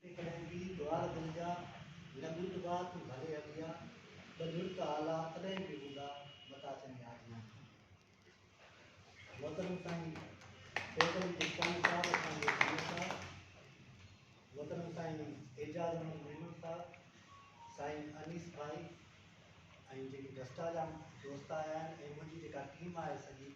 ايڪڙن جي ڏوار دل جا، لڳون ته ٻار تون ڀلي هليا، ٻه لڙڪ آلا تڏهن به هوندا، متان چڱي آجيان ٿي. محترم سائين سيد علي چشتياني صاحب اسان جي سيد صاحب، محترم سائين اعجاز احمد ميمڻ صاحب، سائين انيس ڀائي ۽ جيڪي ڊسٽا جا دوست آيا آهن ۽ منهنجي جيڪا ٽيم آهي سڄي،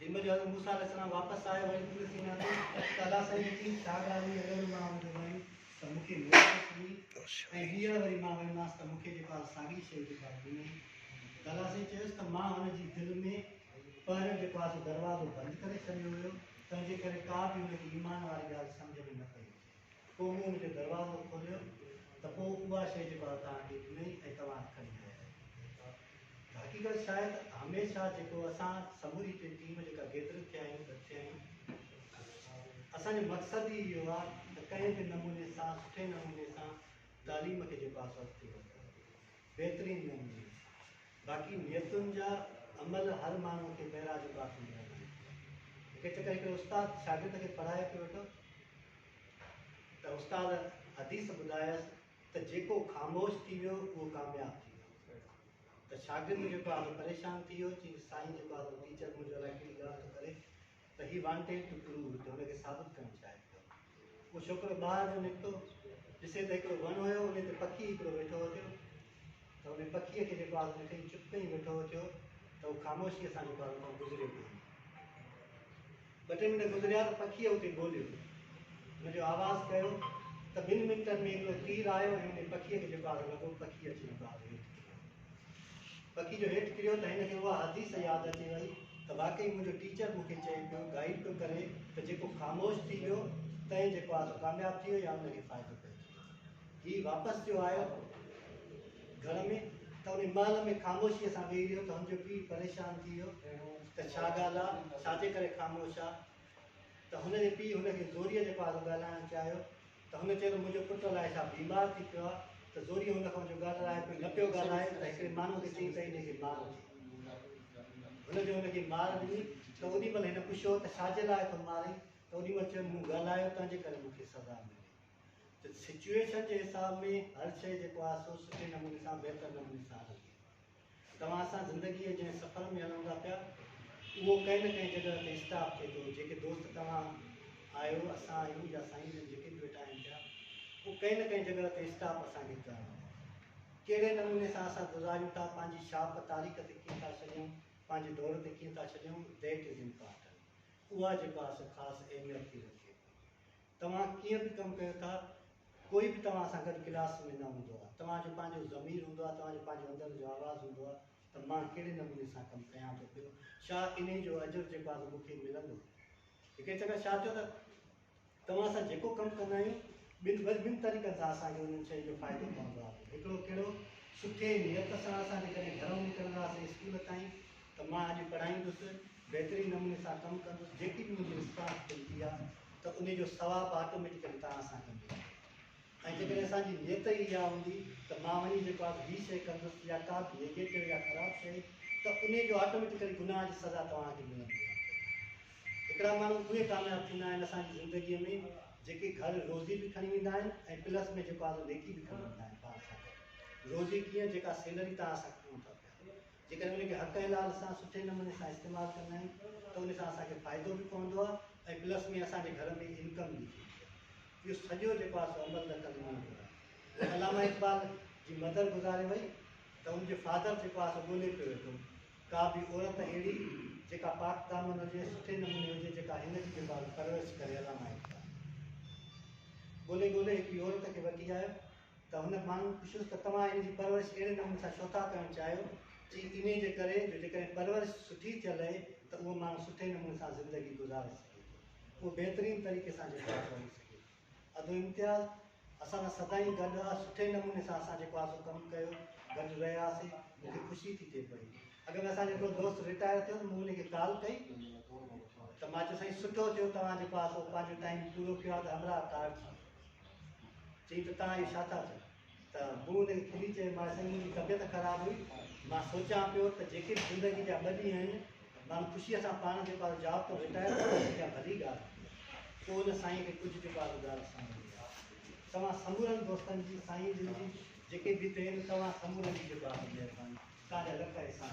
جنھن جو حضرت موسيٰ عليه السلام واپس آيو ۽ طور سيناء تي ته الله سائين اچي ساڳراء ۾ اهڙو مان هن کي ويم ته مون کي ميڙ ۾ کڻي ۽ ٻيهر وري مان ويمانس ته مون کي جيڪو آهي ساڳي شيء جيڪو آهي ڏنئي ته الله سائين چيس ته مان هن جي دل ۾ پهريون جيڪو آهي سو دروازو بند ڪري ڇڏيو هيو تنهن جي ڪري ڪا به هن کي ايمان واري ڳالهه سمجهه ۾ نه پئي اچي. پوء مون ان جو دروازو کوليو ته پوء اها شيء جيڪو آء توهان کي ڏنئي ۽ توهان اٿ کڻي آيا آهيو. ته حقيقت شايد هميشه جيڪو اسان سموري ٽي ٽيم جيڪا گيدر ٿيا آهيون گڏ ٿيا آهيون اسان جو مقصد ئي اهو آهي ته ڪنهن به نموني سان سٺي نموني سان تعليم کي جيڪو آهي سو اڳتي وڌائيون. بهترين نموني باقي نيتن جا عمل هر ماڻهو کي معراج جي بات ۾ ٻڌائيندا آهن هڪ چڪر هڪڙي استاد شاگرد کي پڙهائي پيو ويٺو ته استاد حديث ٻڌايس ته جيڪو خاموش ٿي ويو اهو ڪامياب ٿي ويو ته شاگرد جيڪو آهي پريشان ٿي ويو چي سائين جيڪو آهي ٽيچر منهنجو الائي ڪهڙي ڳالهه ٿو ڪري ته هي وانٽيڊ ٽو پروو ته هن کي ثابت ڪرڻ چاهي ٿو. اهو ڇوڪرو ٻاهر جو نڪتو ڏسي ته هڪڙو وڻ هيو انهي تي پکي هڪڙو ويٺو هو ٿيو ته انهي پکي کي جيڪو آس ڏٺئي چپ ڪئين ويٺو هو ٿيو ته هو خاموشيء سان جيڪو آس اتان گذريو به هيو. ٻه ٽي منٽ گذريا ته پکي اتي ٻوليو ان جو آواز ڪيو ته ٻن منٽن ۾ هڪڙو تير آيو ۽ انهي پکي کي جيڪو آس لڳو پکي اچي جيڪو آس هيٺ ڪري ويو. پکي جو هيٺ ڪريو ته هن کي اها حديث ياد اچي وئي ته واقعي منهنجو ٽيچر مون کي چئي پيو، گائيڊ پيو ڪري ته جيڪو خاموش ٿي ويو تنهن جيڪو آهي سو ڪامياب ٿي ويو يا ان کي فائدو پيو ٿي ويو. هي واپس جو آيو گهر ۾ ته انهي محل ۾ خاموشيء سان ويهي رهيو ته هن جو پيء پريشان ٿي ويو ته ڇا ڳالهه آ، ڇا جي ڪري خاموش آ؟ ته هن جي پيء هن کي زوريء جي پارو ڳالهائڻ چاهيو ته هن چيو ته منهنجو پٽ الائي ڇا بيمار ٿي پيو آهي ته زوريء هن کان اهو ڳالهه لاهي ڪجهه نه پيو ڳالهائي ته هڪڙي ماڻهوء کي چيائين ته انهيء کي مار ڏي. هن جو ان کي مار ڏني ته اوڏي مهل هن پڇيو ته ڇا جي لاء ٿو مارين ته اوڏي مهل چيو مون ڳالهايو تنهن جي ڪري مون کي سزا ملي ته سچوئيشن جي حساب ۾ هر شيء جيڪو آهي سو سٺي نموني سان بهتر نموني سان هلندي. توهان سان زندگيء جنهن سفر ۾ هلون ٿا پيا، اهو ڪنهن نه ڪنهن جڳهه تي اسٽاپ ٿئي ٿو. جيڪي دوست توهان آهيو، اسان آهيون يا سائين جن جيڪي به ويٺا آهن پيا، اهو ڪنهن نه ڪنهن جڳهه تي اسٽاپ اسان کي ڪرڻو آهي. ڪهڙي نموني سان اسان گذاريون ٿا، پنهنجي ڇاپ تاريخ تي ڪيئن ٿا ڇڏيون، پنهنجي دور تي ڪيئن ٿا ڇڏيون، That is important. اها جيڪو آهي سو خاص اهميت ٿي رکي ٿي. توهان ڪيئن به ڪم ڪيو ٿا، ڪوئي به توهان سان گڏ ڪلاس ۾ نه هوندو آهي. توهان جو پنهنجو ضمير هوندو آهي، توهان جو پنهنجو اندر جو آواز هوندو آهي ته مان ڪهڙي نموني سان ڪم ڪيان ٿو پيو، شا انهي جو اجر جيڪو آهي سو مون کي ملندو. هڪڙي چڪر شا ٿيو ته توهان سان جيڪو ڪم ڪندا آهيون، ٻن وري ٻن طريقن سان اسان کي انهن شين جو فائدو پوندو آهي. هڪڙو ڪهڙو، سٺي نيت سان اسان جيڪڏهن گهرئون نڪرنداسين اسڪول تائين ته مان اڄ پڙهائيندس، بهترين نموني سان ڪم ڪندس، جيڪي به منهنجي استاد چئي ٿي آ، ته انهي جو ثواب آٽوميٽيڪلي توهان سان گڏ هوندو ۽ جيڪڏهن اسان جي نيت ئي اها هوندي ته مان وڃي جيڪو آ سو هي شيء ڪندس يا ڪا به نيگيٽو يا خراب شيء ته انهي جو آٽوميٽيڪلي گناهه جي سزا توهان کي ملندي رهندي. هڪڙا ماڻهو اهي ڪامياب ٿيندا آهن اسان جي زندگي ۾ جيڪي گهر روزي به کڻي ويندا آهن ۽ پلس ۾ جيڪو آ سو نيڪي به کڻي ويندا آهن پاڻ سان گڏ. روزي ڪيئن جيڪا سيلري توهان اسان کي ڏيون ٿا پيا. جيڪڏهن ان کي حق حلال سان سٺي نموني سان استعمال ڪندا آهيون ته ان سان اسان کي فائدو به پوندو آهي ۽ پلس ۾ اسان جي گهر ۾ انڪم به ٿيندي آهي. اهو سڄو جيڪو آهي سو عمل ته ڪندو وڃي ٿو. هو علامه اقبال جي مدر گذاري وئي ته ان جو فادر جيڪو آهي سو ڳولي پيو ويٺو ڪا به عورت اهڙي جيڪا پاڪ دامن هجي سٺي نموني هجي جيڪا هن جي جيڪو آهي پرورش ڪري علامه اقبال ڳولي ڳولي هڪڙي عورت کي وٺي آيو. ته هن ماڻهن پڇيس ته توهان ان جي پرورش اهڙي نموني سان ڇو ٿا ڪرڻ چاهيو؟ چي انهي جي ڪري جو جيڪڏهن پرورش سٺي ٿيل رهي ته اهو ماڻهو سٺي نموني سان زندگي گذاري سگهي ٿو. اهو بهترين طريقي سان جيڪو آهي سو هلي سگهي ٿو. ادو امتياز اسان سان سدائين گڏ آ، سٺي نموني سان اسان جيڪو آهي سو ڪم ڪيو، گڏ رهياسين، مون کي خوشي ٿي ٿئي پئي. اڳ ۾ اسان جو هڪڙو دوست رٽائر ٿيو ته مون ان کي ڪال ڪئي ته مان چيس سائين سٺو ٿيو توهان جيڪو آهي سو پنهنجو ٽائيم پورو ڪيو آهي ته همراهه ڪارڊ ٿي ويو. چيائين ته توهان اهي ڇا ٿا چئو؟ ته مون هن کي کلي چيو مان سائين منهنجي طبيعت خراب هئي مان سوچيان پيو ته جيڪي به زندگي جا ٻه ڏينهن آهن ماڻهو خوشيء سان پاڻ جيڪو آهي جاب تان رٽائر ٿي وڃي اها ڀلي ڳالهه آهي پوء ان سائين کي ڪجهه جيڪو آهي ٻڌايو ته سائين مون کي توهان سمورن دوستن جي سائين جن جي جيڪي به هتي آهن توهان سمورن جي جيڪو آهي مهرباني توهان جا لک احسان